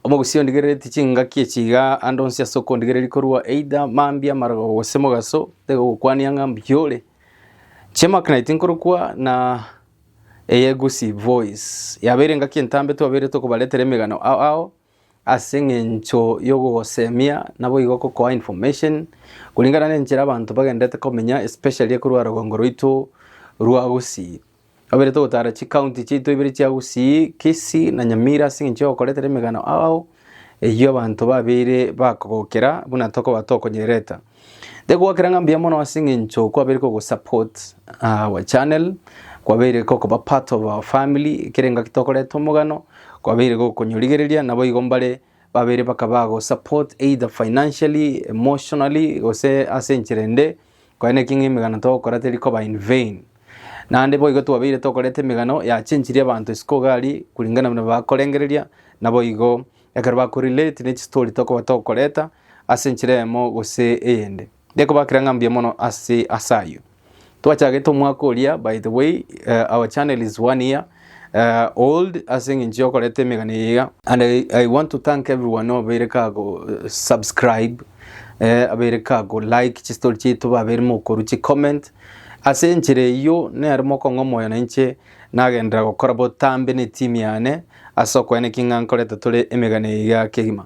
Omogusia ondigerereti chingaki echi iga ande onsi ase okondigereria korwa either mambia amarogo gose mogaso taiga ogokwania ng'a mbuya ore. Chiamaka naye tinkorokwa na eyegusi voice yabeire engaki entambe twabeire tokobaretera emegano ao ao ase eng'encho y'ogogosemia naboigo okokoa information kuringana nenchera abanto bagenderete komenya especially ekorwa rogongo rwaito rwa gusii. Kabere togotara chikaunti chiaito ibere chia Gusii, Kisii na Nyamira ase eng'encho y'ogokoretera emegano ao eyio abanto babeire bakogokera buna tokoba tokonyerereta. Ndegokera ng'a mbuya mono ase eng'encho kwabere kogosupport ah, our channel, kwabeire kokoba part of our family, ekere engaki tokoreta omogano, kwabeire gokonyorigereria, naboigo mbare Babere bakaba ago support either financially, emotionally gose ase enchera ende. Korende naki ng'a emegano togokora teri koba in vain. Naende boigo twabeire tokoreta emegano yachenchirie abanto isiko iga aria kuringana buna bakorengereria naboigo ekero bakorelate ne chistory tokoba tokoreta ase enchera eyemo gose eyende. Ndikobakera ng'a mbuya mono ase ase ayio. Twachagete omwaka oria by the way uh, our channel is one year uh, old ase eng'encho yokoreta emegani eyeiga and I, I want to thank everyone obeire kago uh, subscribe eh, abeire kago like chistori chiaito babeire mokoru chi comment ase enchera eyio nere mokong'a omoyo nainche nagenderera gokora botambe ne team yane ase okoeneki ng'a nkoreta tore emegani eyeiga kegima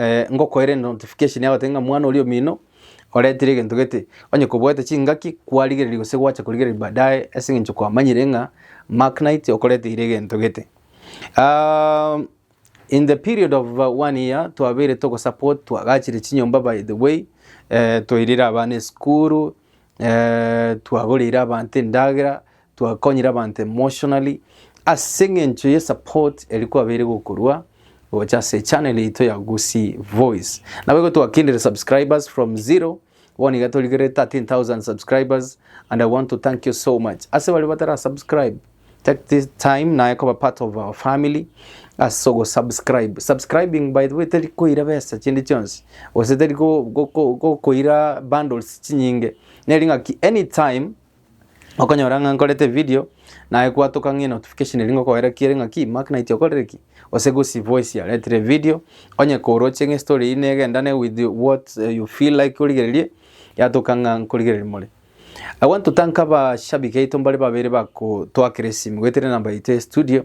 eh, ngokoere notification yagoteba ng'a mwana oria omino oretire egento gete onye koboete chingaki kwarigereria gose gwacha korigereria baadaye ase eng'encho kwamanyire ng'a Mark Knight okoreteire egento gete um, in the period of uh, one year twabeire togosupport twagachire chinyomba by the way eh, toirire abana esukuru eh, twagoreire abanto endagera Twakonyire abanto emotionally ase eng'encho ye support eria kwabeire gokorwa gocha ase channel yaito ya Gusii Voice. Naboigo twakindire subscribers from zero bono iga torigerere 13,000 subscribers and I want to thank you so much. Ase baria batara subscribe take this time naye koba part of our family ase ogo subscribe. Subscribing by the way teri koira besa chinde chionsi gose teri go- go- go- gokoira bundles chinyinge neri ng'aki anytime Okonyora ng'a nkorete evideo, naye gwatoka ng'a enotification eri ngokoera ki ere ng'a ki Mark Knight okorire ki? Gose gose voice yaretire evideo, onye koroche ng'a estory eyio negendane with what you feel like origererie, yatoka ng'a nkorigereria more. I want to thank abashabiki aito mbare babere bago twakera esimi goetera enamba yaito ya estudio,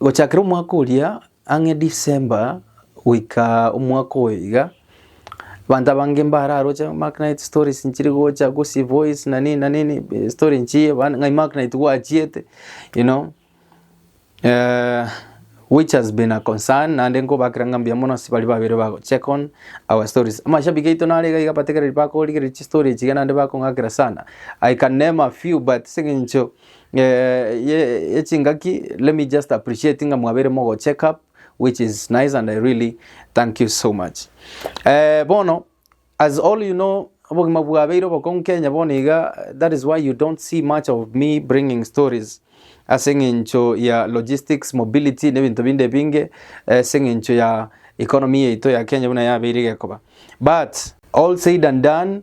Gochakera omwaka oria ang'e December goika omwaka oyo iga, abanto abange mbararoche Mark Knight stories nchire gocha Gusii Voice na nini na nini eh, story nchiye bana ng'ai Mark Knight gwachiete you know eh, which has been a concern naende nkobakera ng'a mbuya mono ase baria babere bago check on our stories. Amashabiki aito nare iga iga bategereri bakorigereria chistory echi iga naende bakong'akera sana. I can name a few but ase eng'encho Eh, ye- yechingaki let me just appreciate ng'a mwabeire mogo check up which is nice and i really thank you so much eh, bono as all you know obogima bwabeire obokong'u kenya bono iga that is why you don't see much of me bringing stories ase eng'encho ya logistics mobility na ebinto binde binge ase eng'encho ya economy yaito ya kenya buna yabeire gekoba but all said and done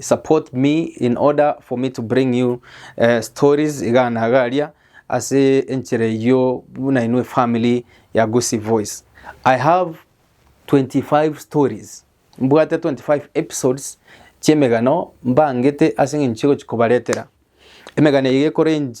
support me in order for me to bring you uh, stories iga na iga aria ase enchera eyio buna inwe family ya Gusii Voice. I have 25 stories mbwate 25 episodes chi'emegano mbangete ase eng'encho egochi kobaretera emegano eye ekorange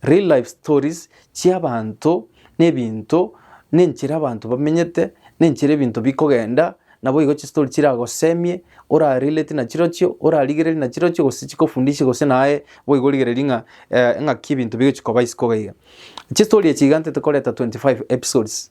Real life stories chi'abaanto, n'ebinto, n'enchera abanto bamenyete, n'enchera ebinto bikogenda, naboigo chistory chiragosemie, ora relate nachirochio, ora rigereria nachirochio gose chikofundishe gose naye boigo origererie ng'a eng'aki ebinto bigochia koba isiko iga iga. Chistory echi igantete koreta 25 episodes.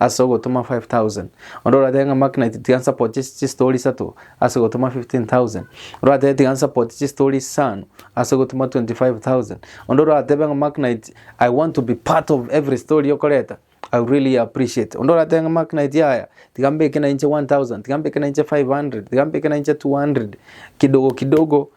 Ase ogotoma 5,000. Onde oratebe ng'a Mark Knight tiga nsapoti chistori isato ase ogotoma 15,000. Oratebe tiga nsapoti chistori isano ase ogotoma 25,000. Onde oratebe ng'a Mark Knight I want to be part of every story okoreta I will really appreciate. Onde oratebe ng'a Mark Knight yaya tiga mbeke nainche 1,000, tiga mbeke nainche 500, tiga mbeke nainche 200 kidogo kidogo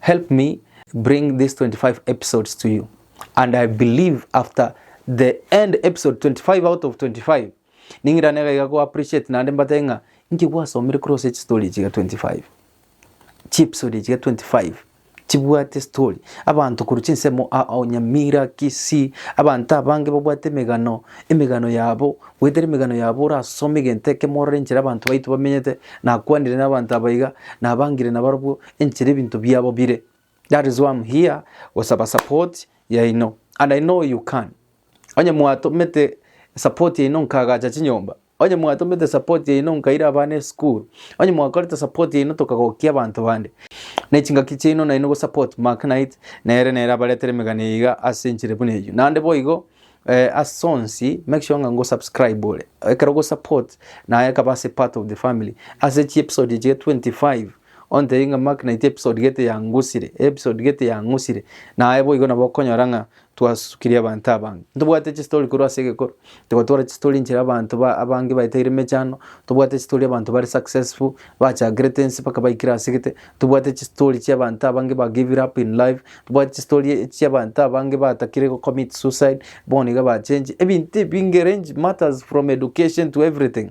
Help me bring this 25 episodes to you and I believe after the end episode 25 out of 25 ning'irane iga iga go appreciate naende mbate ng'a inki gwasomire kore ase chistory echi iga 25 chiepisode echi iga 25 chibwate story abanto korwa chinsemo a- a- nyamira kisii abanto abange babwate emegano emegano yabo goetera emegano yabo orasome egento ekemo orore enchera abanto baito bamenyete nakwanire na abanto aba iga nabangire nabarobwo enchera ebinto biabo bire. That is why I'm here gosaba support yaino and I know you can. Onye mwatomete support yaino nkagacha chinyomba onye mwatomete support yaino nkaira abana esukuru onye mwakorete support yaino tokagokia abanto bande ne chingaki chiaino naino go support Mark Knight nere nere abaretere emegano iga ase enchera buna eyio nande boigo eh, ase onsi make sure ng'a ngo subscribe ore ekero go support naye akaba ase part of the family ase chi episode echiga 25 Ontebie ng'a Mark naitwe episode gete yangusire, episode gete yangusire. Naye boigo nabo okonyora ng'a twasukirie abanto abange. Ntobwate chistori korwa ase egekoro, togotwara chistori nchire abanto ba abange baetaire emechando, tobwate chistori abanto bare successful, bachakirete ense mpaka baikire ase gete, tobwate chistori chia abanto abange ba give it up in life, tobwate chistori chia abanto abange batakire go commit suicide, bono iga bachengi, ebinto ebinge range matters from education to everything.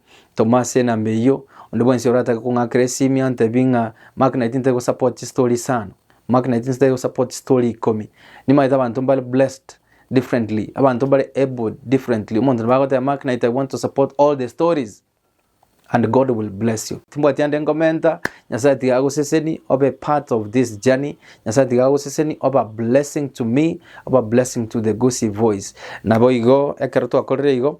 Toma ase enamba eyio, onde bwensi oratake kong'akera esimi antebie ng'a Mark 19 ntari gosupport chistory isano, Mark 19 ntari gosupport chistory ikomi. Nimanyete abanto mbare blessed differently, abanto mbare abled differently. Omonto nabo agoteba Mark 19 I want to support all the stories and God will bless you. Timbwati ande ngomenta, Nyasaye tiga agoseseni obe part of this journey, Nyasaye tiga agoseseni obe a blessing to me, obe a blessing to the Gusii voice. Naboigo ekero twakorire igo,